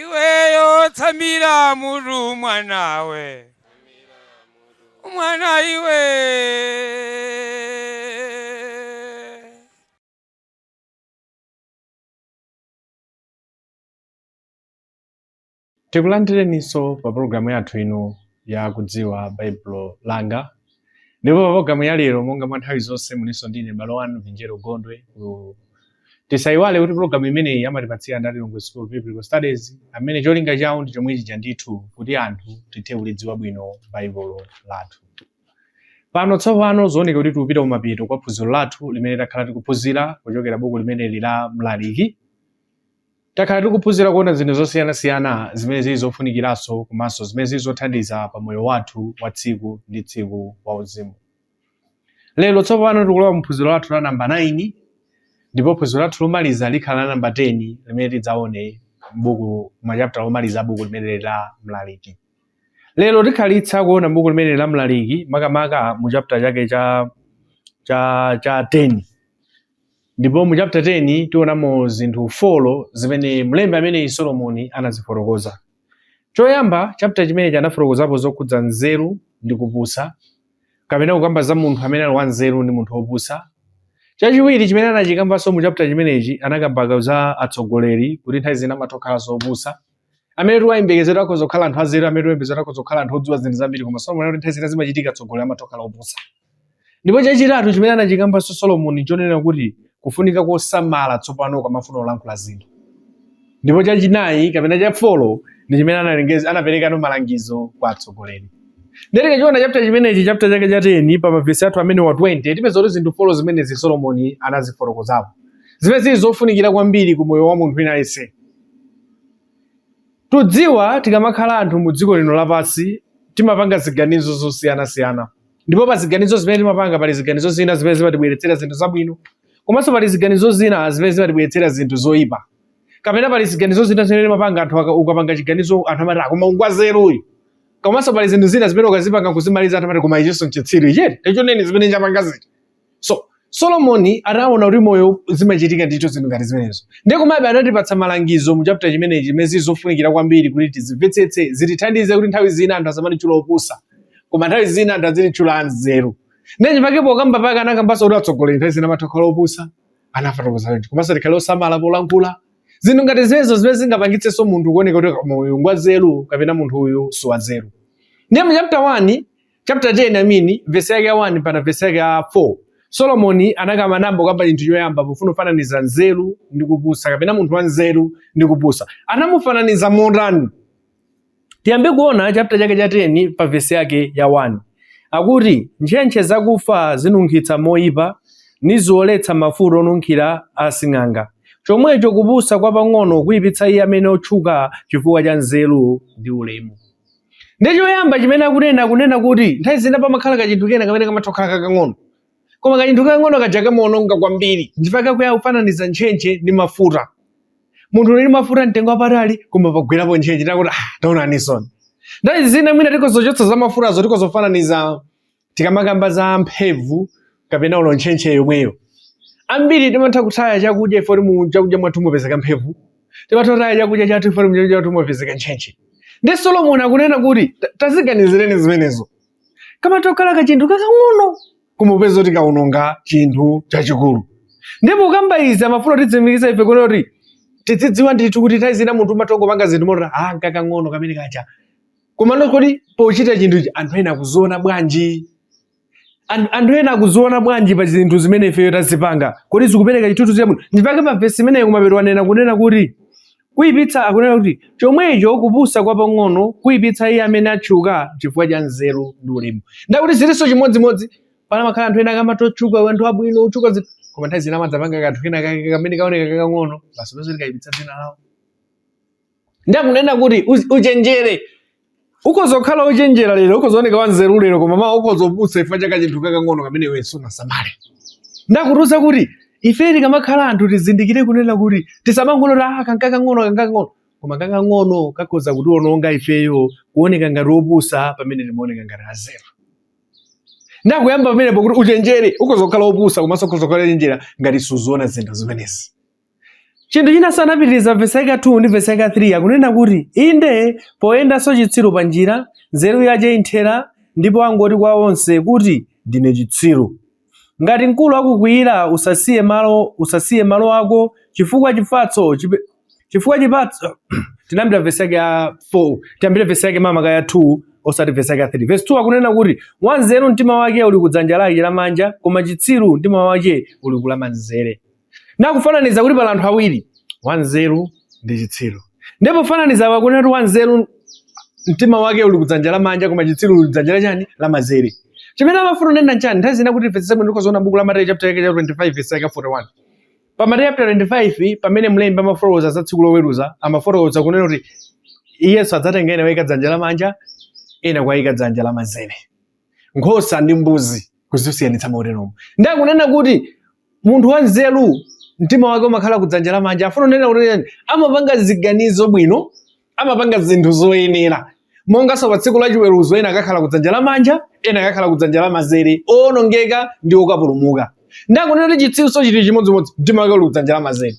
iweyo tsamira mutu mwanawe mwana iwe Tikulandireninso pa pologalamu yathu ino ya kudziwa Baibulo langa ndipo pa pologalamu ya lero monga mwa nthawi zonse mulinso ndine m'bale wanu Vinjero Gondwe tisayiwale kuti pologalamu imeneyi amatipatsira ndi Lilongwe School of Biblical Studies amene cholinga chawo ndi chomwe chija ndithu kuti anthu tithe kulidziwa bwino Baibulo lathu pano tsopano zooneka kuti tikupita kumapeto kwa phunziro lathu limene takhala tikuphunzira kuchokera buku limeneli la Mlaliki Takhala tikuphunzira kuona zinthu zosiyanasiyana zimene zili zofunikiranso komanso zimene zili zothandiza pa moyo wathu wa tsiku ndi tsiku wauzimu. Lero tsopano tikulowa mu phunziro lathu la namba 9 ndipo phunziro lathu lomaliza likhala la namba 10 limene tidzaone m'buku machaputala omaliza a buku limeneli la Mlaliki. Lero tikhalitsa kuona buku limeneli la Mlaliki makamaka mu chaputala chake cha 10 ndipo mu chapter 10 tionamo zinthu folo zimene mlembi ameneyi solomoni anazifotokoza choyamba chapter chimenechi anafotokozapo zokhudza nzeru ndi kupusa kapena kukamba za munthu amene ali wanzeru ndi munthu wopusa chachiwiri chimene anachikambanso mu chapter chimenechi anakamba za atsogoleri kuti nthawi zina amatokhalanso opusa amene tiwayembekezera adzakhala anthu anzeru amene tiwayembekezera adzakhala anthu odziwa zinthu zambiri koma solomoni anati nthawi zina zimachitika atsogoleri amatokhala opusa ndipo chachitatu chimene anachikambanso solomoni chonena kuti kufunika kosamala tsopano ukamafuna kulankhula zinthu ndipo chachinayi kapena chafolo ndi chimene anaperekanso malangizo kwa atsogoleri ndiye tikachiona chapter chimenechi chapter chake cha 10 pa mavesi ake amenewa 20 tipeza kuti zinthu folo zimenezi solomoni anazifotokozapo zimene zili zofunikira kwambiri ku moyo wa munthu wina aliyense Tudziwa tikamakhala anthu mu dziko lino lapansi timapanga ziganizo zosiyanasiyana ndipo pa ziganizo zimene timapanga pali ziganizo zina zimene zimatibweretsera zinthu zabwino komanso pali ziganizo zina zimene zimatibweretsera zinthu zoyipa kapena pali ziganizo zina zimene timapanga anthu aka- ukapanga chiganizo anthu amati koma uyu ngwanzeru uyu komanso pali zinthu zina zimene ukazipanga kuzimaliza anthu amati koma ichinso nchitsiru ichi tachioneni zimene chapangazi so solomoni anaona kuti moyo zimachitika ndithu zinthu ngati zimenezo ndiye komabe anatipatsa malangizo mu chapter chimenechi zimene zili zofunikira kwambiri kuti tizimvetsetse zitithandize kuti nthawi zina anthu asamatitchula opusa koma nthawi zina anthu azititchula anzeru ndiye chifukwa pokamba pake anakambanso kuti atsogoleri nthawi zina amatokhala opusa anafotokoza choncho komanso tikhale osamala polankhula zinthu ngati zimenezo zimene zingapangitsenso munthu kuoneka kuti koma uyu ngwanzeru kapena munthu uyu siwanzeru ndiye mu chapter 1 chapter 10 amini vesi yake ya 1 mpaka vesi yake ya 4 solomoni anakamba nayamba kukamba chinthu choyamba pofuna kufananiza nzeru ndi kupusa kapena munthu wa nzeru ndi kupusa anamufananiza motani tiyambe kuona chapter chake cha 10 pa vesi yake ya 1 akuti ntchentche zakufa zinunkhitsa moyipa niziwoletsa mafuta onunkhira a sing'anga chomwecho kupusa kwapang'ono kuyipitsa iye amene otchuka chifukwa cha nzeru ndi ulemu Ndiye choyamba chimene akunena akunena kuti nthawi zina pamakhala kachinthu kena kamene kamatha kukhala kakang'ono. Koma kachinthu kakang'ono kaja kamaononga kwambiri. Ndipake akufananiza ntchentche ndi mafuta. Munthu uli ndi mafuta mtengo wapatali koma pagwerapo ntchentche takuti ah taonaninso. Nthawi zina mwina tikhozochotsa za mafutazo tikhozofananiza tikamakamba za mphemvu kapena olo ntchentche yomweyo ambiri timatha kutaya chakudya chifukwa choti mu chakudya mwathu mwapezeka mphemvu timatha kutaya chakudya chathu chifukwa choti mu chakudya mwathu mwapezeka ntchentche ndiye solomoni akunena kuti "Ta- taziganizireni zimenezo kamatokhala kachinthu kakang'ono kumupeza kuti kaononga chinthu chachikulu ndi pokamba izi amafuna kutitsimikiza ife kuno kuti tidzidziwa ndithu kuti nthawi zina munthu umatongopanga zinthu moti ah kakang'ono kamene kacha komano kodi pochita chinthu ichi anthu ena akuziona bwanji An- anthu ena akuziona bwanji pa zinthu zimene ifeyo tazipanga kodi zikupereka chithunzi chabwino ndipake pa vesi imeneyo kumapeto wanena kunena kuti kuipitsa akunena kuti chomwecho kupusa kwa pang'ono kuipitsa iye amene atchuka chifukwa cha nzeru ndi ulemu nde akuti zilinso chimodzimodzi pena pamakhala anthu ena akamatotchuka anthu abwino otchuka zinthu koma nthawi zina amadzapanga kanthu kena kake kamene kaoneka kakang'ono basi pazoti kaipitsa dzina lawo ndiye akunena kuti "Uzi- uchenjere ukhoza kukhala wochenjera lero ukhoza kuoneka wanzeru lero koma mawa ukhoza kupusa chifukwa cha kachinthu kakang'ono kamene iwe sunasamale nde akutiuza kuti ife tikamakhala anthu tizindikire kunena kuti tisamangolota "Ah, kankakang'ono kankakang'ono koma kakang'ono kakhoza kutiononga ifeyo kuoneka ngati opusa pamene timaoneka ngati anzeru nde akuyamba pamenepo kuti uchenjere ukhoza kukhala opusa komanso ukhoza kukhala ochenjera ngati suziona zinthu zimenezi Chinthu chinanso anapitiriza vesi yake ya 2 ndi vesi yake ya 3 akunena kuti inde poyendanso chitsiru pa njira nzeru yace imthera ndipo angoti kwa onse kuti ndine chitsiru. Ngati mkulu akukwiyira usasiye malo usasiye malo ako chifukwa chifatso chipe, chifukwa chifatso tinayambira vesi yake ya 4 tiyambire vesi yake makamaka ya 2 osati vesi yake ya 3 vesi 2 akunena kuti wanzeru mtima wake uli kudzanja lake lamanja koma chitsiru mtima wake uli kulamanzere nakufananiza kuti pali anthu awiri wanzeru ndi chitsiru ndipo kufananiza akunena kuti wanzeru mtima wake uli kudzanja lamanja koma chitsiru uli kudzanja lachani lamazere chimene amafuna kunena nchani nthawi zina kuti timvetsetse bwino zoona buku la mateyu chapter yake ya 25 verse yake 41 pa mateyu chapter 25 pamene mlembi amafotokoza za tsiku loweruza amafotokoza kunena kuti yesu adzatenga ena kuika dzanja lamanja ena kuika dzanja lamazere nkhosa ndi mbuzi kuzisiyanitsa moteromo ndiye akunena kuti munthu wanzeru mtima wake umakhala kudzanja lamanja afuna kunena kuti amapanga ziganizo bwino amapanga zinthu zoyenera monganso pa tsiku lachiweruzo ena akakhala kudzanja lamanja ena akakhala kudzanja lamazere owonongeka ndi okapulumuka ndakunena kuti chitsiru chili chimodzimodzi mtima wake uli kudzanja lamazere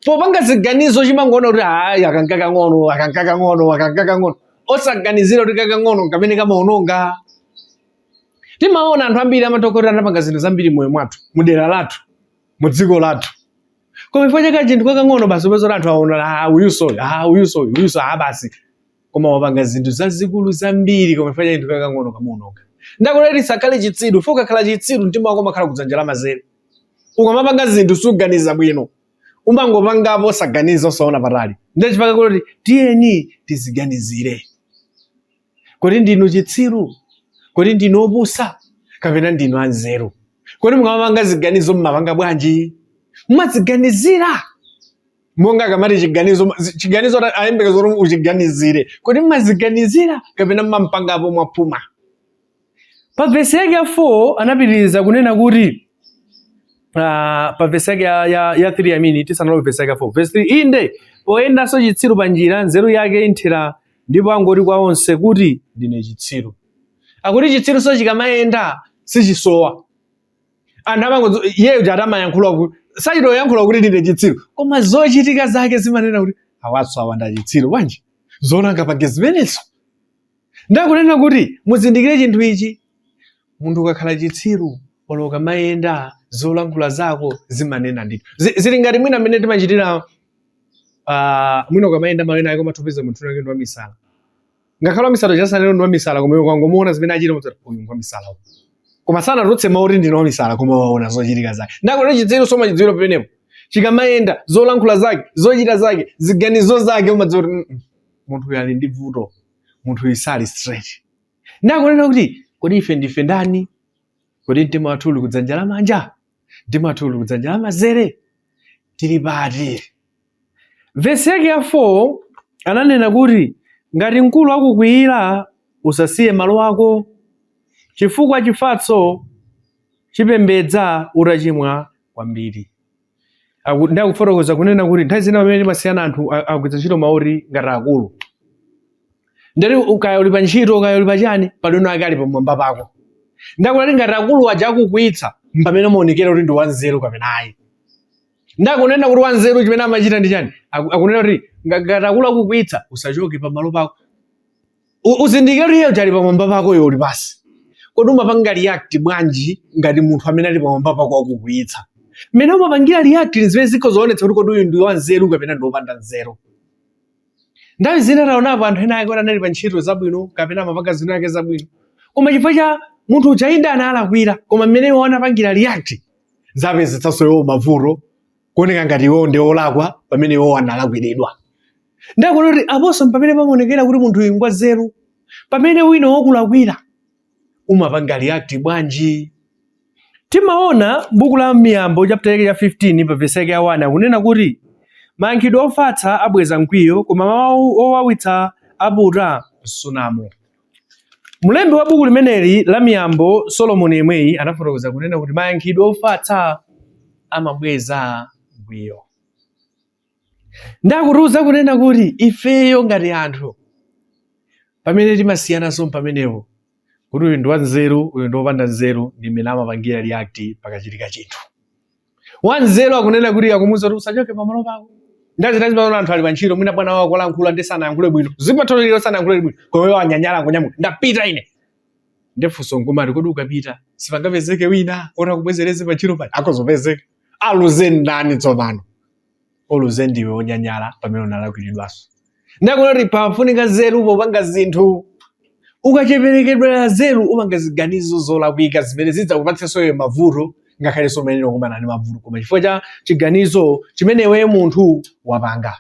popanga ziganizo chimangoona kuti ayi aka nkakang'ono aka nkakang'ono aka nkakang'ono osaganizira kuti kakang'ono kamene kamaononga timaona anthu ambiri amatha kukhala kuti anapanga zinthu zambiri moyo mwathu mu dera lathu mu dziko lathu koma chifukwa cha kachinthu kakang'ono basi upeza kuti anthu aona ah uyuso uyu, ah uyuso uyu, uyuso ah basi koma wapanga zinthu zazikulu zambiri koma chifukwa cha kachinthu kakang'ono kamuononga ndakunena tisakhale chitsiru chifukwa ukakhala chitsiru mtima wako umakhala kudzanja la mazere ukamapanga zinthu suganiza bwino umangopangapo osaganiza osaona patali ndiye chifukwa kuti tiyeni tiziganizire Kodi ndinu chitsiru? Kodi ndinu opusa? Kapena ndinu anzeru? Kodi mukamapanga ziganizo mmapanga bwanji? Mmaziganizira monga akamati chiganizo chiganizo ayembekeza kuti uchiganizire. Kodi mmaziganizira kapena mmangopangapo mwaphuma? Pa vesi yake ya 4 anapitiriza kunena kuti Uh, pa vesi yake ya, ya, ya 3 I mean tisanalowe vesi yake ya 4 vesi 3 inde poyendanso chitsiru pa njira nzeru yake imthera ndipo angoti kwa onse kuti ndine chitsiru akuti chitsirunso chikamayenda sichisowa anthu amangozo iyeyo kuti akamayankhula kuti sachita kuyankhula kuti ndine chitsiru koma zochitika zake zimanena kuti awanso awa ndi achitsiru bwanji zoona angapange zimenezo Ndakunena kuti muzindikire chinthu ichi, munthu ukakhala chitsiru olo ukamayenda zolankhula zako zimanena ndithu. Zi- Zili ngati mwina mmene timachitira ah, mwina ukamayenda malo ena ake umathopeza munthu wake ndi wamisala. Ngakhale wamisala uja sanene kuti ndi wamisala koma iwe ukangomuona zimene achita mudzati uyu ndi wamisala uyu. Koma sanatulutse mawu kuti ndine wamisala koma waona zochitika zake. Ndakunena chitsirunso umachidziwira pamenepo. Chikamayenda zolankhula zake, zochita zake, ziganizo zake umadziwa kuti "Mm, mm, munthu uyu ali ndi vuto. munthu uyu sali straight ndakunena kuti kodi ife ndife ndani kodi mtima wathu uli kudzanja la manja mtima wathu uli kudzanja la mazere tili pati vesi yake ya 4 ananena kuti ngati mkulu akukwiyira usasiye malo ako chifukwa chifatso chipembedza utachimwa kwambiri Aku- ndi akufotokoza kunena kuti nthawi zina pamene timasiyana anthu a- agwiritsa ntchito mawu oti ngati akulu ndati ukaya uli pa ntchito ukaya uli pa chani pali wina wake ali pamwamba pako ndakunena kuti ngati akulu aja akukwiyitsa mpamene umaonekera kuti ndi wanzeru kapena ayi ndakunena kuti wanzeru chimene amachita ndi chani Aku- akunena kuti nga- ngati akulu akukwiyitsa usachoke pamalo pako U- uzindikire kuti iye kuti ali pamwamba pako iwe uli pasi kodi umapanga react bwanji ngati munthu amene ali pamwamba pako akukwiyitsa mmene umapangira react ndi zimene zikho zoonetsa kuti kodi uyu ndi wanzeru kapena ndi wopanda nzeru nthawi zina taonapo anthu ena ake anali pa ntchito zabwino kapena amapanga zinthu zake zabwino koma chifukwa cha munthu uja inde analakwira koma mmene iwo anapangira react zapezetsanso iwo mavuto kuoneka ngati iwowo ndi olakwa pamene iwowo analakwiridwa ndakunena kuti aponso mpamene pamaonekera kuti munthu uyu ngwa nzeru pamene wina wakulakwira umapanga react bwanji timaona buku la miyambo chapter yake ya 15 pa vesi yake ya 1 akunena kuti mayankhidwe ofatsa abweza mkwiyo koma mawu owawitsa aputa msunamo Mlembi wa buku limeneli la Miyambo, Solomoni yemweyi, anafotokoza kunena kuti mayankhidwe ofatsa amabweza mkwiyo. Ndakutiuza kunena kuti ifeyo ngati anthu pamene timasiyananso pamenepo kuti uyu ndi wanzeru uyu ndi wopanda nzeru ndi mmene amapangira react pakachitika chinthu. Wanzeru akunena kuti akumuuza kuti usachoke pamalo pako. Nthawi zina timaona anthu ali pantchito mwina bwana wakulankhula ndi sanayankhule bwino. Zimatheka lero sanayankhule bwino. Koma iwo anyanyala kunyamuka. Ndapita ine. Ndefunso nkumati kodi ukapita sipangapezeke wina oti akubwezereze pantchito paja akhoza opezeka. Aluze ndani tsopano? oluze ndiwe onyanyala pamene unalakwiridwanso ndakunena kuti pafunika zeru popanga zinthu ukacheperekedwera zeru umapanga ziganizo zolakwika zimene zidzakupatsenso iwe mavuto ngakhalenso mmene ukumana ndi mavuto koma chifukwa cha chiganizo chimene iwe munthu wapanga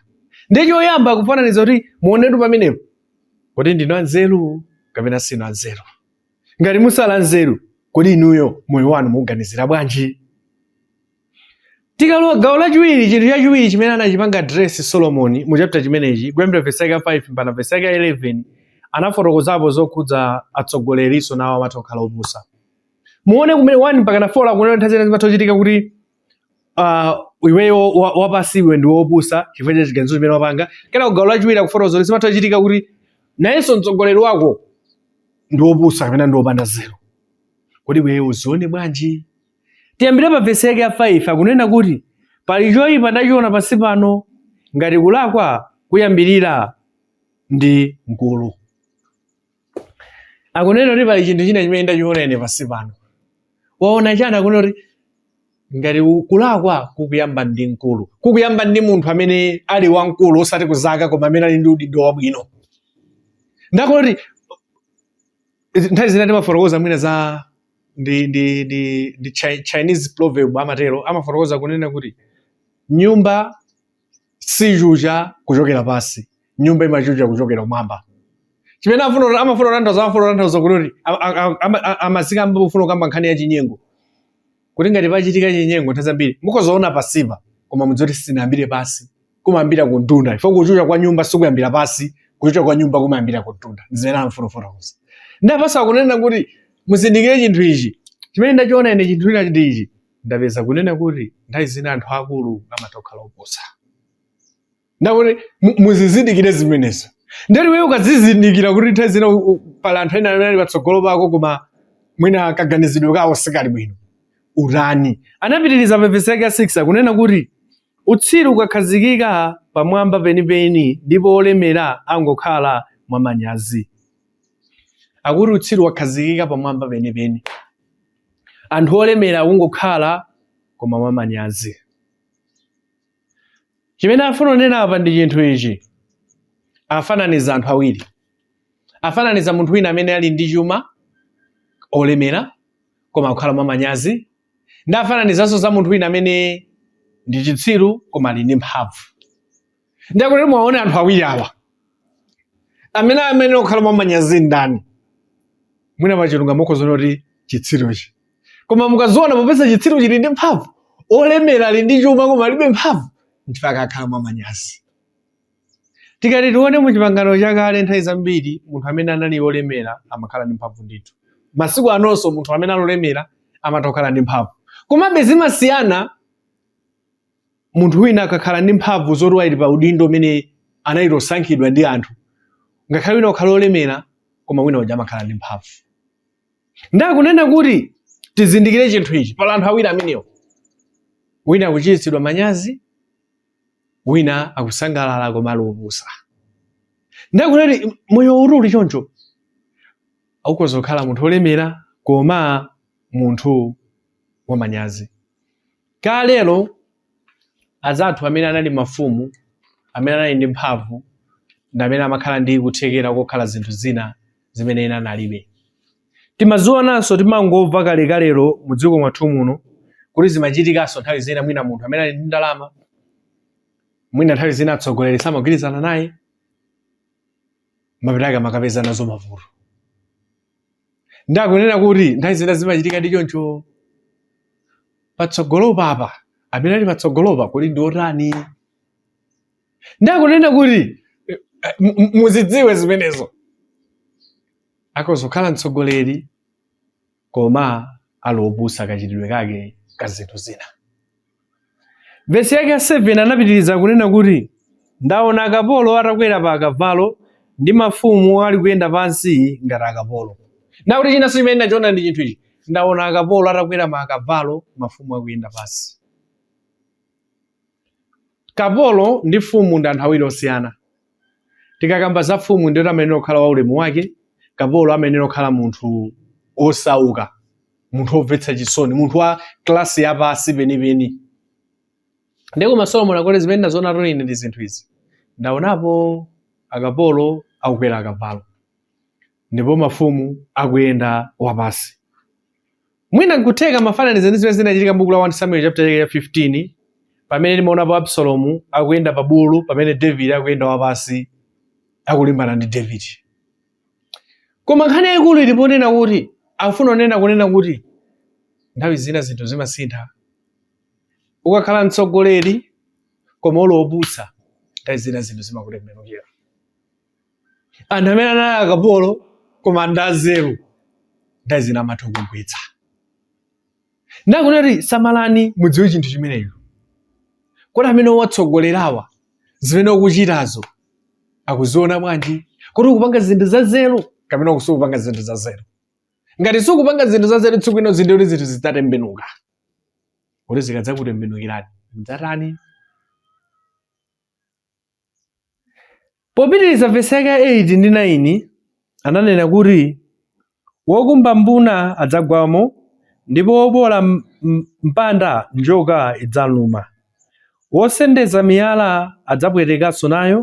ndi choyamba kufananiza kuti muonetu pamenepo kodi ndinu anzeru kapena sinu anzeru ngati muli osowa nzeru kodi inuyo moyo wanu mukuganizira bwanji tikalowa gawo lachiwiri chinthu chachiwiri chimene anachipanga address solomoni mu chapter chimenechi kuyambira vesi yake ya 5 mpaka vesi yake ya 11 anafotokozapo zokhudza atsogolerinso nawo amatha kukhala opusa muone kumene 1 mpaka na 4 akunena nthawi zina zimatha kuchitika kuti ah, iweyo wa- wapasi iwe ndi wopusa chifukwa cha chiganizo chimene wapanga kenako gawo lachiwiri akufotokoza kuti zimatha kuchitika kuti nayenso mtsogoleri wako ndi wopusa kapena ndi wopanda nzeru kodi iweyo uzione bwanji Tiyambire pa vesi yake ya 5 akunena kuti pali choyipa ndachiona pansi pano ngati kulakwa kuyambirira ndi mkulu. Akunena kuti pali chinthu china chimene ndachiona ine pansi pano. Waona chani akunena kuti ngati ku- kulakwa kukuyamba ndi mkulu. Kukuyamba ndi munthu amene ali wamkulu osati kuzaka koma amene ali ndi udindo wabwino. Ndiye kuti nthawi zina timafotokoza mwina za ndi ndi ndi, ndi chi- chinese proverb amatero amafotokoza kunena kuti nyumba sichucha kuchokera pansi nyumba imachucha kuchokera kumwamba chimene afuna kuti- amafuna kutanthauza amafuna kutanthauza kuti kuti a- a- a- ama- a- amazika pofuna kukamba nkhani ya chinyengo kuti ngati pachitika chinyengo nthawi zambiri mukozaona pansipa koma mudziwe kuti sinayambire pansi kumayambira ku mtunda chifukwa kuchucha kwa nyumba sikuyambira pansi kuchucha kwa nyumba kumayambira ku mtunda zimene amafuna kufotokoza ndiye apa akuza kunena kuti muzindikire chinthu ichi chimene ndachiona ine chinthu china ndi ichi ndapeza kunena kuti nthawi zina anthu akulu amatokhala opusa ndiye akuti muzizindikire zimenezo ndiye kuti iweyo ukazizindikira kuti nthawi zina pali anthu ena amene ali patsogolo pako koma mwina kaganizidwe kawo sikali bwino ulani akupitiriza pa vesi yake ya 6 akunena kuti Utsiru ukhazikika pamwamba penipeni ndipo olemera angokhala mwamanyazi. Akuti utsiru wakhazikika pamwamba penipeni, anthu olemera akungokhala koma mwamanyazi. Chimene afuna kunena apa ndi chinthu ichi, afananiza anthu awiri, afananiza munthu wina amene ali ndi chuma, olemera koma akukhala mwamanyazi, ndi afananizanso za munthu wina amene ndi chitsiru koma ali ndi mphamvu ndiye akuti muwaone anthu awiri awa amene amene okhala mwamanyazi ndani mwina pachilungamo mukhoza kuona kuti chitsiruchi koma mukaziona popeza chitsiru chili ndi mphamvu olemera ali ndi chuma koma alibe mphamvu mpaka akhala mwamanyazi Tikati tione mu Chipangano Chakale, nthawi zambiri munthu amene anali wolemera amakhala ndi mphamvu ndithu. Masiku anonso munthu amene ali wolemera amatha kukhala ndi mphamvu. Komabe zimasiyana munthu wina akakhala ndi mphamvu zoti ali pa udindo umene anachita kusankhidwa ndi anthu. Ngakhale wina kukhala wolemera koma wina uja amakhala ndi mphamvu. Ndiye akunena kuti tizindikire chinthu ichi pali anthu awiri amenewo. Wina akuchititsidwa manyazi, wina akusangalala koma ali opusa ndiye akunena kuti moyo uti uli choncho ukhoza kukhala munthu olemera koma munthu wamanyazi kalero azathu amene anali mafumu amene anali ndi mphamvu ndi amene amakhala ndi kuthekera kokhala zinthu zina zimene ena analibe Timazionanso, timangomva kalekalelo mu dziko mwathu muno kuti zimachitikanso nthawi zina, mwina munthu amene ali ndi ndalama, mwina nthawi zina atsogoleri samagwirizana naye, mapeto ake amakapeza nazo mavuto. Ndakunena kuti nthawi zina zimachitika ndi choncho patsogolo paja amene ali patsogolopa kuli ndi otani? Ndakunena kuti eh, muzidziwe zimenezo. Akhoza kukhala mtsogoleri koma ali opusa kachitidwe kake ka zinthu zina. Vesi yake ya 7 anapitiriza kunena kuti, Ndaona akapolo atakwera pa akavalo, ndi mafumu ali kuyenda pansi ngati akapolo. Ndiye kuti chinanso chimene ndachiona ndi chinthu ichi, ndaona akapolo atakwera pa akavalo, mafumu akuyenda pansi. Kapolo ndi mfumu ndi anthu awiri osiyana. Tikakamba za mfumu ndiye kuti amayenera kukhala waulemu wake, kapolo amayenera kukhala munthu wosauka, munthu womvetsa chisoni, munthu wa klasi yapasi penipeni. Ndiye koma Solomoni akuti zimene ndazionatu ine ndi zinthu izi, ndaonapo akapolo akukwera akavalo ndipo mafumu akuyenda wapasi. Mwina nkutheka amafananiza ndi zimene zinachitika m'buku la 1 Samuel chapter chake cha 15 pamene timaona po Absalomu akuyenda pa bulu pamene David akuyenda wapansi akulimbana ndi David. Koma nkhani yayikulu ili ponena kuti akufuna kunena kunena kuti nthawi zina zinthu zimasintha. Ukakhala mtsogoleri koma uli wopusa nthawi zina zinthu zimakutembenukira. anthu amene anali akapolo koma ndi anzeru nthawi zina amatha kugwetsa ndakunati samalani mudziwe chinthu chimenecho kodi amene ukuwatsogolerawa zimene ukuchitazo akuziona bwanji kodi ukupanga zinthu zanzeru kapena sukupanga zinthu zanzeru ngati sukupanga zinthu zanzeru tsiku lina zinthu kuti zinthu zidzatembenuka kuti zikadzakutembenukirani mdzatani Popitiriza vesi yake ya 8 ndi 9 ananena kuti, Wokumba mbuna adzagwamo, ndipo woboola mpanda njoka idzamluma. Wosendeza miyala adzapwetekanso nayo,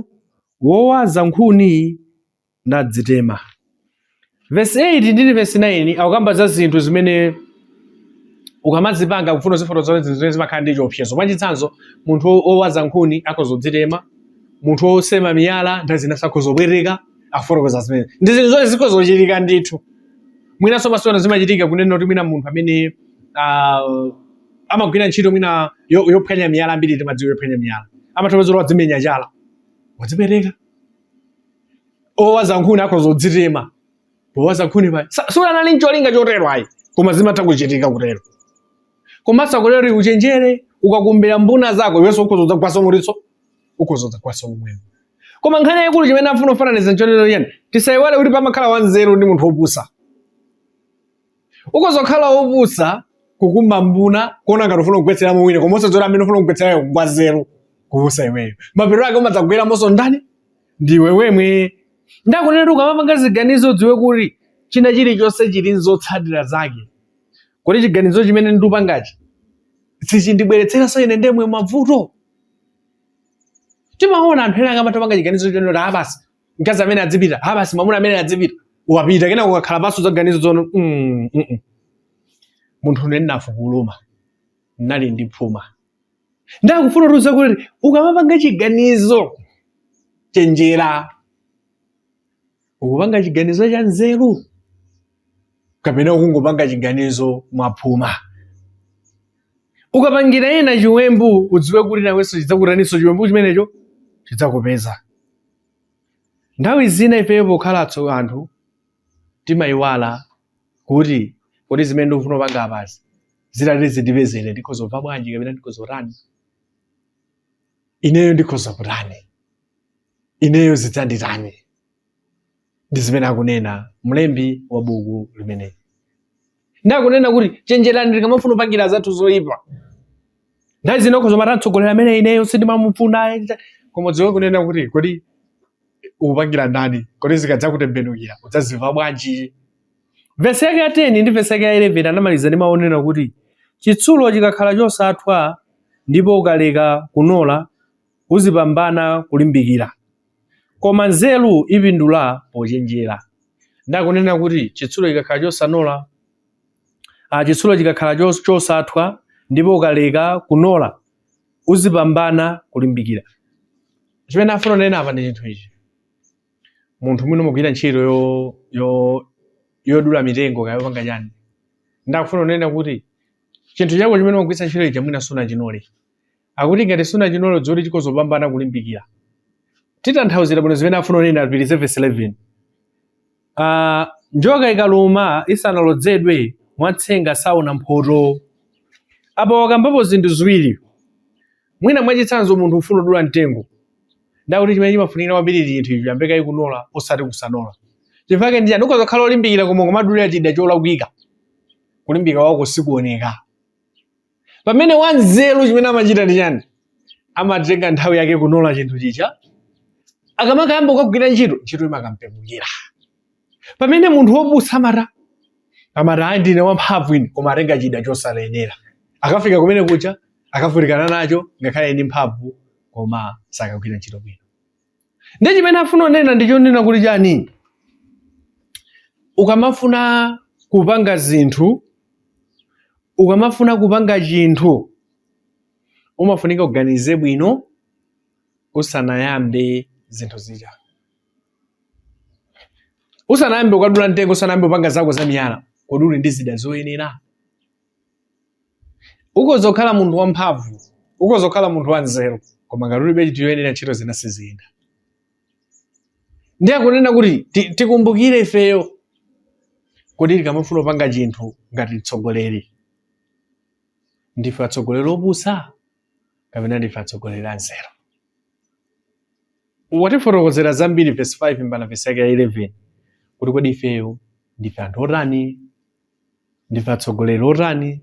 wowaza nkhuni nadzitema. Vesi 8 ndi vesi 9 akukamba za zinthu zimene ukamazipanga kufuna uzifotokoza zinthu zimene zimakhala ndi chiopsezo. Mwachitsanzo, munthu wo- wowaza nkhuni akhoza kudzitema, munthu wosema miyala nthawi zina akhoza kupweteka akufotokoza zimene. Ndi zinthu zonse zikhoza kuchitika ndithu. Mwinanso masewera zimachitika kunena kuti mwina munthu amene ah, amagwira ntchito mwina yo- yophwanya miyala ambiri timaidziwa yophwanya miyala. Amatha kudziwa kuti wadzimenya chala, wadzipweteka. owaza nkhuni akhoza kudzitema powaza nkhunipo sunali ncholinga chotero ayi koma zimatha kuchitika kutero komanso akutero uchenjere ukakumbira mbuna zako iwenso ukhoza udzagwaso mulitso ukhoza udzagwaso momwemo koma nkhani yayikulu chimene afuna kufananiza nchonena yayi tisayiwale kuti pamakhala wanzeru ndi munthu wopusa ukhoza kukhala wopusa kukumba mbuna kuona ngati ufuna kugwetseramo wina koma usadziwa kuti amene ufuna kugwetserayo ngwanzeru kuposa iweyo mapeto ake umadzagweramonso ndani ndiwe wemwe ndakunena kuti ukamapanga ziganizo udziwe kuti china chilichonse chili nzotsatira zake kuti chiganizo chimene ndikupangachi sichindibweretseranso ine ndemwe mavuto timaona anthu ena akamapanga chiganizo chonena kuti a basi mkazi amene adzipita a basi mwamuna amene adzipita wapita kenako ukakhala pansi zaganizo zono mm, mm, mm. munthune ndinafukuluma ndinali ndi phuma ndakufuna kutiuza kuti ukamapanga chiganizo chenjera ukupanga chiganizo cha nzeru kapena ukungopanga chiganizo mwaphuma ukapangira ena chiwembu udziwe kuti nawenso chidzakutaninso chiwembu chimenecho chidzakupeza nthawi zina ifeyo pokhala atso anthu timayiwala kuti kodi zimene ndikufuna kupanga apazi zitati zindipeze ine ndikhoza kumva bwanji kapena ndikhoza kutani ineyo ndikhoza kutani ineyo zidzanditani ndi zimene akunena mlembi wa buku limeneli ndi akunena kuti chenjerani tikamafuna kupangira anzathu zoyipa nthawi zina ukhoza kumati mtsogoleri amene ineyo sindimamufuna ayi, ndita- koma udziwe kunena kuti kodi ukupangira ndani kodi zikadzakutembenukira udzazimva bwanji vesi yake ya 10 ndi vesi yake ya 11 anamaliza ndi mawu onena kuti chitsulo chikakhala chosathwa ndipo ukaleka kunola uzipambana kulimbikira. Koma nzeru ipindula pochenjera. Ndi akunena kuti chitsulo chikakhala chosanola, ah, chitsulo chikakhala chos- chosathwa ndipo ukaleka kunola uzipambana kulimbikira. Chimene afuna kunena apa ndi chinthu ichi. Munthu mwina umagwira ntchito yo yo yodula mitengo kaya yopanga chani. Ndakufuna kunena kuti chinthu chako chimene umagwiritsa ntchito ichi mwina sunachinole. Akuti ngati sunachinole dziwa kuti chikhoza upambana kulimbikira. Titanthauzira bwino zimene afuna unena apitirize vesi 11. Aaa njoka ikaluma isanalodzedwe watsenga saona mphotho. Apa wakambapo zinthu ziwiri. Mwina mwachitsanzo munthu ufuna udula mtengo. Ndakuti chimene chimafunikira kwambiri ndi chinthu icho uyambe kaye kunola osati kusanola. Chifukwa chake ndi chani ukhoza kukhala olimbikira koma kumadulira chida cholakwika. Kulimbika kwako sikuoneka. pamene wanzeru chimene amachita ndi chani amatenga nthawi yake kunola chinthu chija akamakayamba kukagwira ntchito ntchito imakampepukira pamene munthu wopusa amati amati ayi ndine wamphamvu ine koma atenga chida chosayenera akafika kumene kuja akavutikana nacho ngakhale ndi mphamvu koma sakagwira ntchito bwino ndi chimene afuna kunena ndi chonena kuti chani ukamafuna kupanga zinthu ukamafuna kupanga chinthu umafunika uganize bwino usanayambe zinthu zija usanayambe kukadula mtengo usanayambe kupanga zako za miyala kodi uli ndi zida zoyenera ukhoza kukhala munthu wamphamvu ukhoza kukhala munthu wanzeru koma ngati ulibe chinthu choyenera ntchito zina siziyenda ndiye akunena kuti ti- tikumbukire ifeyo kuti tikamafuna kupanga chinthu ngati mtsogoleri ndife atsogoleri opusa kapena ndife atsogoleri anzeru watifotokozera zambiri vesi 5 mpaka vesi yake ya 11 kuti kodi ifeyo ndife anthu otani ndife atsogoleri otani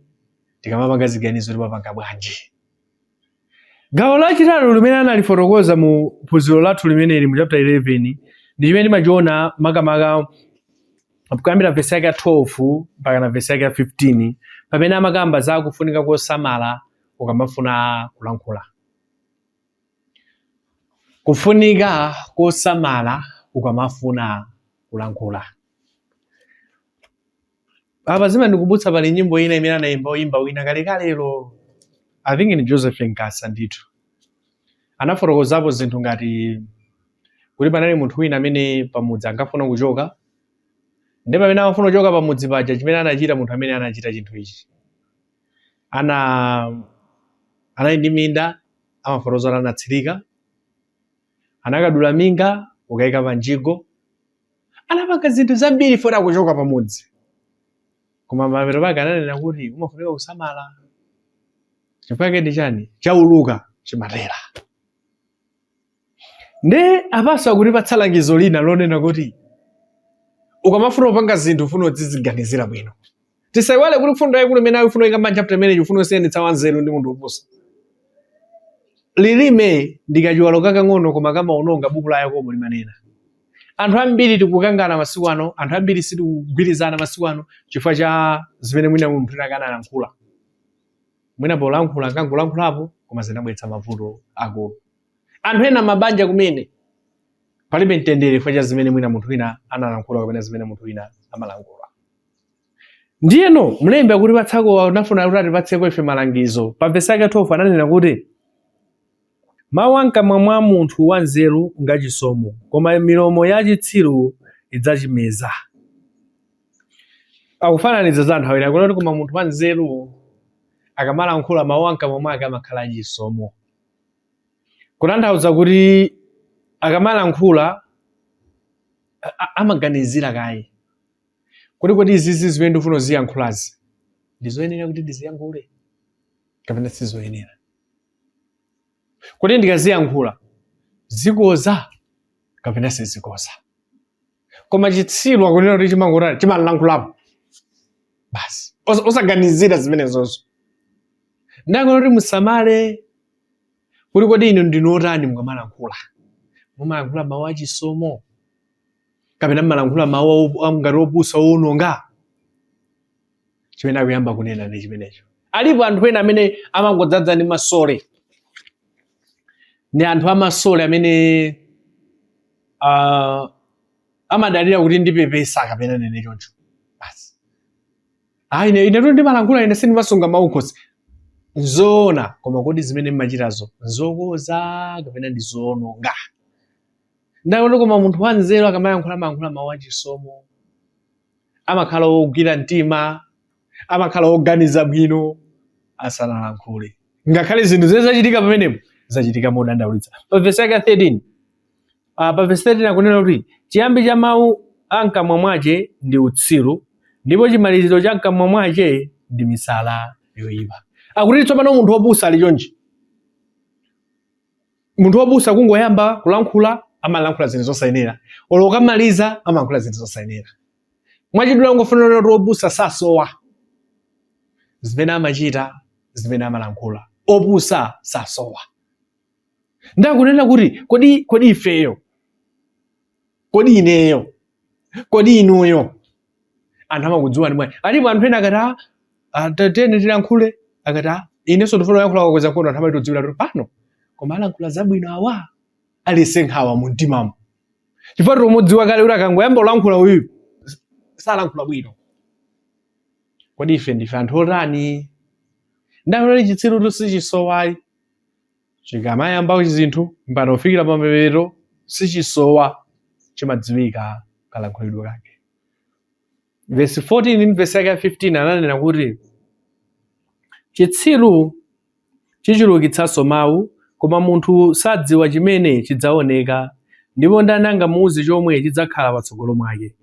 tikamapanga ziganizo timapanga bwanji gawo lachitatu limene analifotokoza mu phunziro lathu limeneli mu chapter 11 ndi chimene timachiona makamaka kuyambira vesi yake ya 12 mpakana vesi yake ya 15 pamene amakamba za kufunika kosamala ukamafuna kulankhula kufunika kosamala ukamafuna kulankhula apa zimandikumbutsa pali nyimbo ina imene anayimba woyimba wina kalekalelo i think ni joseph nkasa ndithu anafotokozapo zinthu ngati kuti panali munthu wina amene pamudzi ankafuna kuchoka ndi pamene amafuna kuchoka pamudzi paja chimene anachita munthu amene anachita chinthu ichi anali ndi minda amafotokoza kuti anatsirika anakadula minga kukayika panjigo anapanga zinthu zambiri poti akuchoka pamudzi koma mapeto pake ananena kuti umafunika kusamala chifukwa chake ndi chani chauluka chimatera nde apanso akutipatsa langizo lina lonena kuti ukamafuna kupanga zinthu ufunika udziziganizira bwino tisaiwale kuti mfundo yaikulu imene akufuna kuikamba m'chapter imeneyi akufuna kusiyanitsa wanzeru ndi munthu wopusa lilime ndi kachiwalo kakang'ono koma kamaononga buku la yakobo limanena anthu ambiri tikukangana masiku ano anthu ambiri sitikugwirizana masiku ano chifukwa cha zimene mwina munthu atakana analankhula mwina polankhula anangolankhulapo koma zinabweretsa mavuto aakulu anthu ena mabanja kumene palibe mtendere chifukwa cha zimene mwina munthu wina analankhula kapena zimene munthu wina amalankhula Ndiyeno mlembi akutipatsako anafuna kuti atipatseko ife malangizo. Pa vesi yake 12 ananena kuti mawu a mkamwa mwa munthu wanzeru ngachisomo, koma milomo ya chitsiru idzachimeza. Akufananiza za anthu awiri akunena kuti koma munthu wanzeru akamalankhula mawu a mkamwa mwake amakhala achisomo, kutanthauza kuti akamalankhula amaganizira kaye Kodi kodi izizi zimene ndikufuna kuziyankhulazi ndi zoyenera kuti ndiziyankhule kapena sizoyenera? Kodi ndikaziyankhula zikoza kapena sizikoza? Koma chitsiru akunena kuti chimangotani chimalankhulapo basi Osa- osaganizira zimenezozo. Nde akunena kuti musamale kuti kodi inu ndinu otani mukamalankhula. Mumalankhula mawu achisomo kapena mmalankhula mawu owu- a- ngati opusa owononga chimene akuyamba kunena ndi chimenecho alipo anthu ena amene amangodzaza ndi masole ndi anthu amasole amene ah, amadalira kuti ndipepesa kapena nene choncho basi ayi ine inetu ndimalankhula ine sindimasunga mawu kukhosi nzoona koma kodi zimene mmachitazo nzokoza kapena ndi zoononga Nde akuti koma munthu wanzeru akamayankhula amayankhula mawu achisomo, amakhala wogwira mtima, amakhala woganiza bwino asanalankhule. Ngakhale zinthu zimene zachitika pamenepo zachitika modandaulitsa. Pa vesi yake ya 13, ah, pa vesi 13 akunena kuti chiyambi cha mawu a mkamwa mwache ndi utsiru, ndipo chimaliziro cha mkamwa mwache ndi misala yoyipa. Akuti tsopano munthu wopusa ali chonchi. munthu wopusa kungoyamba kulankhula amalankhula zinthu zosayenera olo kukamaliza amalankhula zinthu zosayenera mwachidule akungofuna kunena kuti wopusa sasowa zimene amachita zimene amalankhula opusa sasowa nde akunena kuti kodi kodi ifeyo kodi ineyo kodi inuyo anthu amakudziwani bwanji alipo anthu ena akati "Ah, ah, ta- tiyeni tilankhule akati "Ah, inenso ndifuna kuyankhula akakweza mkono anthu amatodziwira kuti pano koma alankhula zabwino awa alibe nkhawa mu mtimamo chifukwa timudziwa kale kuti akangoyamba kulankhula uyu salankhula bwino kodi ife ndife anthu otani ndalole chitsiru tu sichisowa ayi chikamayamba kuchita zinthu mpaka kufikira pamapeto sichisowa chimadziwika kalankhulidwe kake vesi 14 ndi vesi yake ya 15 ananena kuti chitsiru chichulukitsanso mawu koma munthu sadziwa chimene chidzaoneka ndipo ndani angamuuze chomwe chidzakhala patsogolo mwake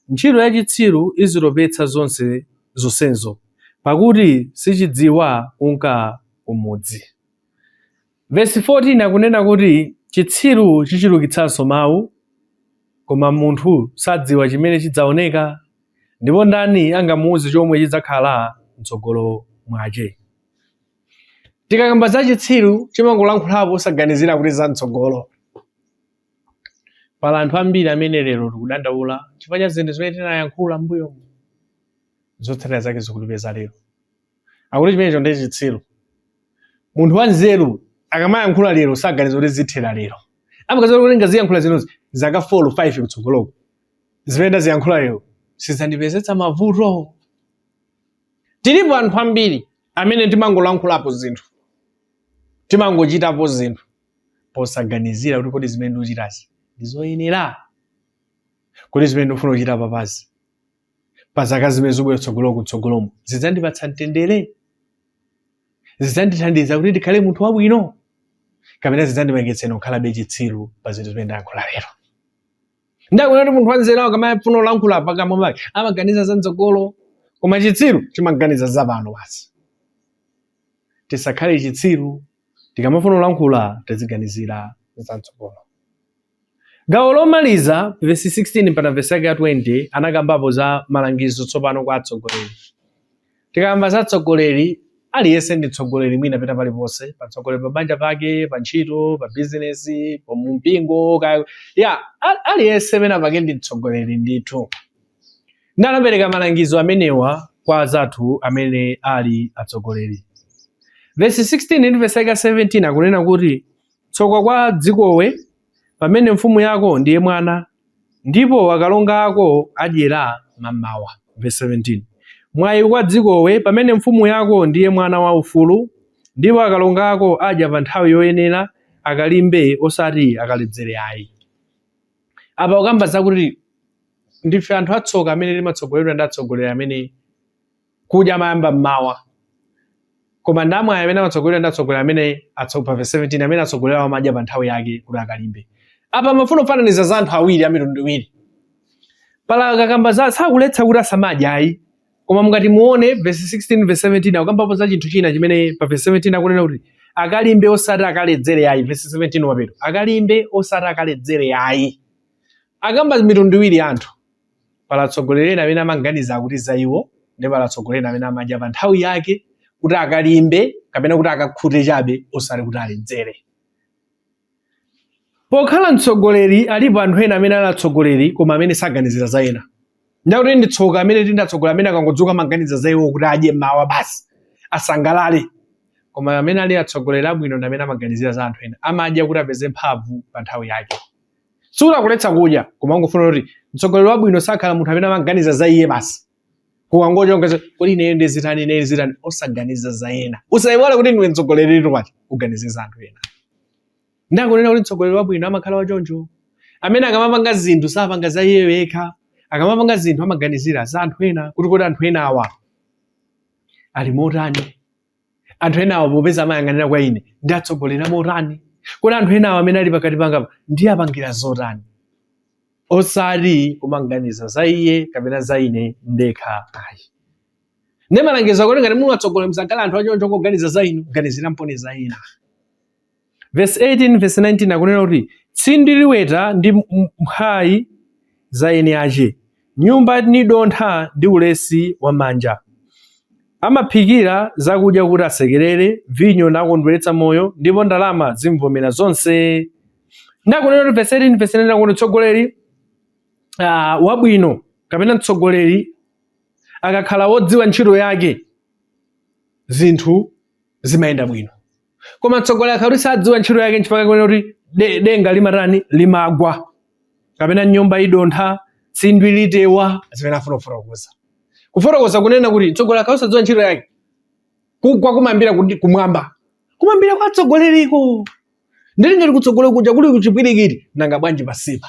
Ntchito ya chitsiru izitopetsa zonse zonsezo, pakuti sichidziwa kunka kumudzi. Vesi 14 akunena kuti chitsiru chichulukitsanso mawu, koma munthu sadziwa chimene chidzaoneka, ndipo ndani angamuuze chomwe chidzakhala mtsogolo mwache. Tikakamba za chitsiru chimangolankhulapo osaganizira kuti za mtsogolo. Pali anthu ambiri amene lero tikudandaula chifukwa cha zinthu zimene tinayankhula m'mbuyomu, zotsatira zake zikutipeza lero. Akuti chimenecho ndiye chitsiru. Munthu wanzeru akamayankhula lero saganiza kuti zithera lero, amaganiza kuti ndikaziyankhula zinozi zaka 4 5 kutsogoloko zimene ndaziyankhula lero sizandipezetsa mavuto. Tilipo anthu ambiri amene timangolankhulapo zinthu, timangochitapo zinthu posaganizira kuti kodi zimene ndikuchitazi ndi zoyenera? Kodi zimene ndikufuna kuchita papazi pa zaka zimene zikubwera kutsogolo kutsogolomo zidzandipatsa mtendere? Zidzandithandiza kuti ndikhale munthu wabwino? Kapena zidzandipangitsa ine kukhalabe chitsiru pa zinthu zimene ndayankhula lero? Nde akunena kuti munthu wanzeru akamafuna kulankhula pakamwa pake amaganiza za mtsogolo, koma chitsiru chimaganiza za pano basi. Tisakhale chitsiru Tikamafuna kulankhula, tiziganizira za m'tsogolo. Gawo lomaliza, vesi 16 mpaka vesi yake ya 20, anakambapo za malangizo tsopano kwa atsogoleri. Tikakamba za atsogoleri, aliyense ndi mtsogoleri mwina pena paliponse, pa mtsogoleri pa banja pake, pa ntchito, pa bizinesi, pa mpingo, kaya ya a- aliyense pena pake ndi mtsogoleri ndithu. Nde anapereka malangizo amenewa kwa anzathu amene ali atsogoleri. Vesi 16 ndi vesi yake 17 akunena kuti tsoka kwa dzikowe pamene mfumu yako ndiye mwana ndipo akalonga ako adyera mamawa. Vesi 17 mwayi kwa dzikowe pamene mfumu yako ndiye mwana wa ufulu ndipo akalonga ako adya pa nthawi yoyenera akalimbe osati akaledzere ayi. apa akukamba zakuti ndife anthu atsoka amene timatsogoleredwa ndi atsogoleri amene kudya amayamba mmawa koma ndi amwayi amene amatsogoleredwa ndi atsogoleri amene atso- pa verse 17 amene atsogoleri awo amadya pa nthawi yake kuti akalimbe apa amafuna kufananiza za anthu awiri a mitundu iwiri paja akakamba za sakuletsa kuti asamadya ayi koma mungati muone vesi 16 vesi 17 akukambapo za chinthu china chimene pa vesi 17 akunena kuti akalimbe osati akaledzere ayi vesi 17 kumapeto akalimbe osati akaledzere ayi akamba mitundu iwiri ya anthu pali atsogoleri ena amene amaganiza kuti za iwo nde pali atsogoleri ena amene amadya pa nthawi yake kuti akalimbe kapena kuti akakhute chabe osati kuti aledzere pokhala mtsogoleri alipo anthu ena amene ali atsogoleri koma amene saganizira za ena ndikuti ndi tsoka amene tili ndi atsogoleri amene akangodzuka amaganiza za iwo kuti adye mawa basi asangalale koma amene ali atsogoleri abwino ndi amene amaganizira za anthu ena amadya kuti apeze mphamvu pa nthawi yake sikuti akuletsa kudya koma akungofuna kuti mtsogoleri wabwino sakhala munthu amene amaganiza za iye basi kukangocha ungoti kodi ineyo ndizitani ineyo ndizitani osaganiza za ena usayiwale kuti ndiwe mtsogoleri kuti uganize za anthu ena ndikunena kuti mtsogoleri wabwino amakhala wachoncho amene akamapanga zinthu sapanga za iyeyo yekha akamapanga zinthu amaganizira za anthu ena kuti kodi anthu ena awa ali motani anthu enawa popeza amayang'anira kwa ine ndiatsogolera motani kodi anthu enawa amene ali pakati pangapa ndiapangira zotani osati kumaganiza za iye kapena za ine ndekha ayi ne malangizo akuti ngati muli atsogoleri musakhale anthu achoncho kungoganiza za inu ganizira mponi za ena Vesi 18 vesi 19 akunena kuti tsindwi liweta ndi mphwayi za eni ace, nyumba nidontha ndi ulesi wa manja. Amaphikira zakudya kuti asekerere, vinyo nakondweretsa moyo, ndipo ndalama zimvomera zonse. Ndikunena kuti vesi 18 vesi 19 akuti mtsogoleri uh, wabwino kapena mtsogoleri akakhala wodziwa ntchito yake zinthu zimayenda bwino. koma mtsogoleri akakhala kuti sadziwa ntchito yake nchifukwa chake kuti de- denga limatani limagwa kapena nyumba idontha tsindwi litewa zimene afuna kufotokoza kufotokoza kunena kuti mtsogoleri akakhala sadziwa ntchito yake kugwa kumayambira kuti kumwamba kumayambira kwa atsogoleriko ndiye ngati kutsogolera kuja kuli kuchipwirikiti nanga bwanji pansipa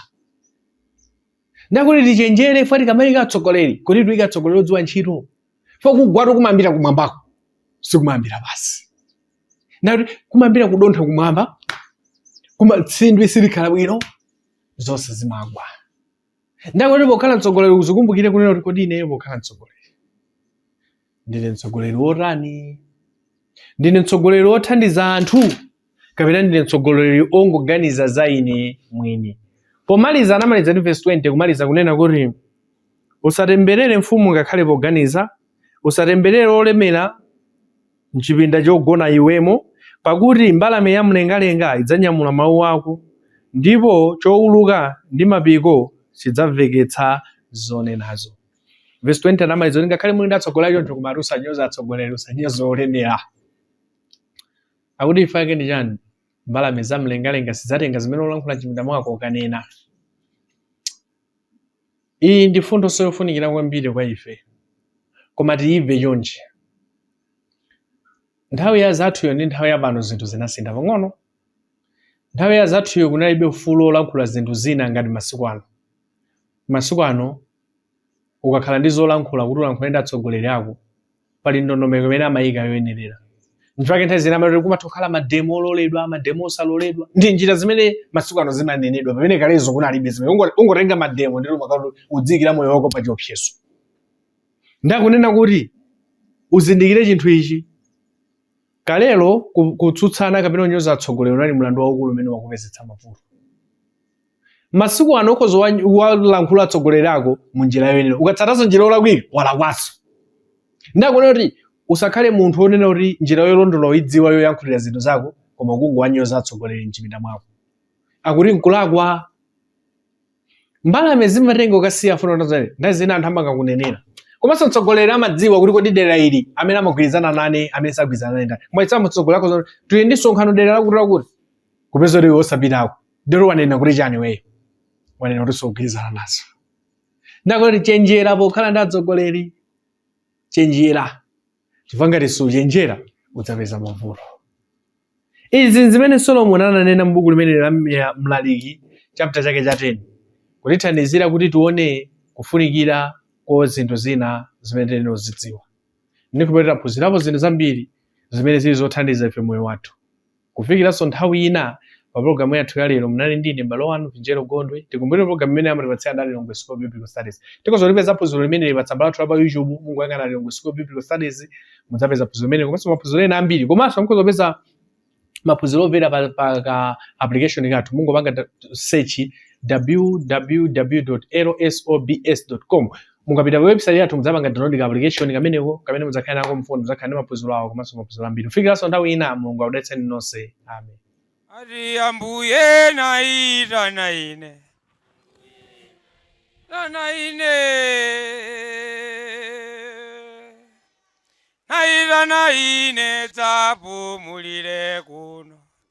Ndikuti tichenjere ifwe tikamayika atsogoleri kuti tiyike atsogoleri odziwa ntchito. Fo kugwatu kumayambira kumwambako sikumayambira pansi. Ndikuti kumayambira kudontha kumwamba kuma tsindwi silikhala bwino zonse zimagwa. Ndikuti pokhala mtsogoleri uzikumbukire kunena kuti kodi ineyo pokhala mtsogoleri ndine mtsogoleri wotani ndine mtsogoleri wothandiza anthu kapena ndine mtsogoleri ongoganiza za ine mwini pomaliza anamaliza ndi verse 20 kumaliza kunena kuti usatemberere mfumu ngakhale poganiza usatemberere olemera mchipinda chogona iwemo pakuti mbalame ya mlengalenga idzanyamula mawu ako ndipo chowuluka ndi mapiko chidzamveketsa zonenazo Verse 20 anamaliza kuti ngakhale muli ndi atsogoleri choncho koma ati usanyoze atsogoleri usanyoze olemera. Akuti chifukwa chake ndi chani? Mbalame za mlengalenga zidzatenga zimene ulankhula m'chipinda mwako nkukanena. Iyi ndi mfundo yofunikira kwambiri kwa ife koma tiyimve chonchi. Nthawi ya anzathuyo ndi nthawi ya pano zinthu zinasintha pang'ono. Nthawi ya anzathuyo kunalibe ufulu wolankhula zinthu zina ngati masiku ano. Masiku ano ukakhala ndi zolankhula kuti ulankhule ndi atsogoleri ako pali ndondomeko imene amayika yoyenerera nchifukwa chake nthawi zina amati kumatha kukhala mademo ololedwa mademo osaloledwa ndi njira zimene masiku ano zimanenedwa pamene kalelo kunalibe zimene Ungo- ukangotenga mademo ndiye umakhala kuti udziyikira moyo wako pa chiopsezo nde akunena kuti uzindikire chinthu ichi kalelo ku- kutsutsana kapena kunyoza atsogoleri unali mlandu waukulu umene umakupezetsa mavuto masiku ano ukhoza kuwa- kuwalankhula atsogoleri ako mu njira yoyenera ukatsatanso njira yolakwika walakwanso nde akunena kuti usakhale munthu wonena kuti njira yolondola ukuyidziwa yoyankhulira zinthu zako koma kungowanyoza atsogoleri mchipinda mwako akuti nkulakwa mbalame zimatenga ukasiya afuna utazale nthawi zina anthu amangakunenera komanso mtsogoleri amadziwa kuti kodi dera ili amene amagwirizana nane amene sagwirizana nane ndani waitana mtsogoleri ako zoti tili ndi msonkhano dera lakuti lakuti kupeza kuti iwe osapitako nde kuti wanena kuti chani iweyo wanena kuti sukugwirizana nazo nde akuti chenjera pokhala ndi atsogoleri chenjera chifukwa ngati suchenjera udzapeza mavuto izi ndi zimene solomoni ananena m'buku limeneli la mlaliki chapter chake cha 10 kutithandizira kuti tione kufunikira kwa zinthu zina zimene tiyenera kuzidziwa ndipo tiphunzirapo zinthu zambiri zimene zili zothandiza ife moyo wathu Kufikiranso nthawi ina, pa pulogalamu yathu ya lero munali ndi ine m'bale wanu Vinjero Gondwe. Tikumbukire pulogalamu imeneyi amatipatsira nda a Lilongwe School of Biblical Studies. Tikhoza kulipeza phunziro limeneli pa tsamba lathu la pa YouTube, mungoyang'ana Lilongwe School of Biblical Studies, mudzapeza phunziro limeneli komanso maphunziro ena ambiri. Komanso mukhoza kupeza maphunziro omvera pa, pa ka application kathu mungopanga da- search www.lsobs.com mukapita pa website yathu mudzapanga download ka application kameneko kamene mudzakhala nako mfoni mudzakhala ndi maphunziro awo komanso maphunziro ambiri kufikiranso nthawi ina mulungu akudalitseni nonse amen Ati ambuye naitana ine naitana ine naitana ine dzapumulire kuno